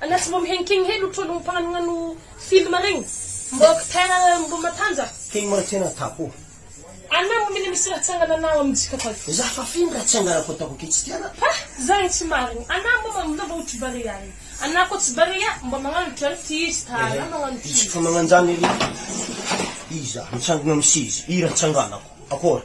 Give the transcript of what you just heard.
Anah tsy mbo mihenkegny hely otrao lo mpagnano film regny mbo acteur mbo matanja. Tegny mora tena atako ô. Anah mbo mila misy raha tsy angananao am jika fa. Za fa feno raha tsy anganako ataoko aky tsy tianah. Ha! Zagny tsy marigny. Anah mbo mamono mba otry barea regny. Anah koa tsy barea mba magnano drano ty izy ta anah magnano ty izy. Izy fa magnanjany ery. Iza mitsangana am seza ira tsy anganako. Akôry.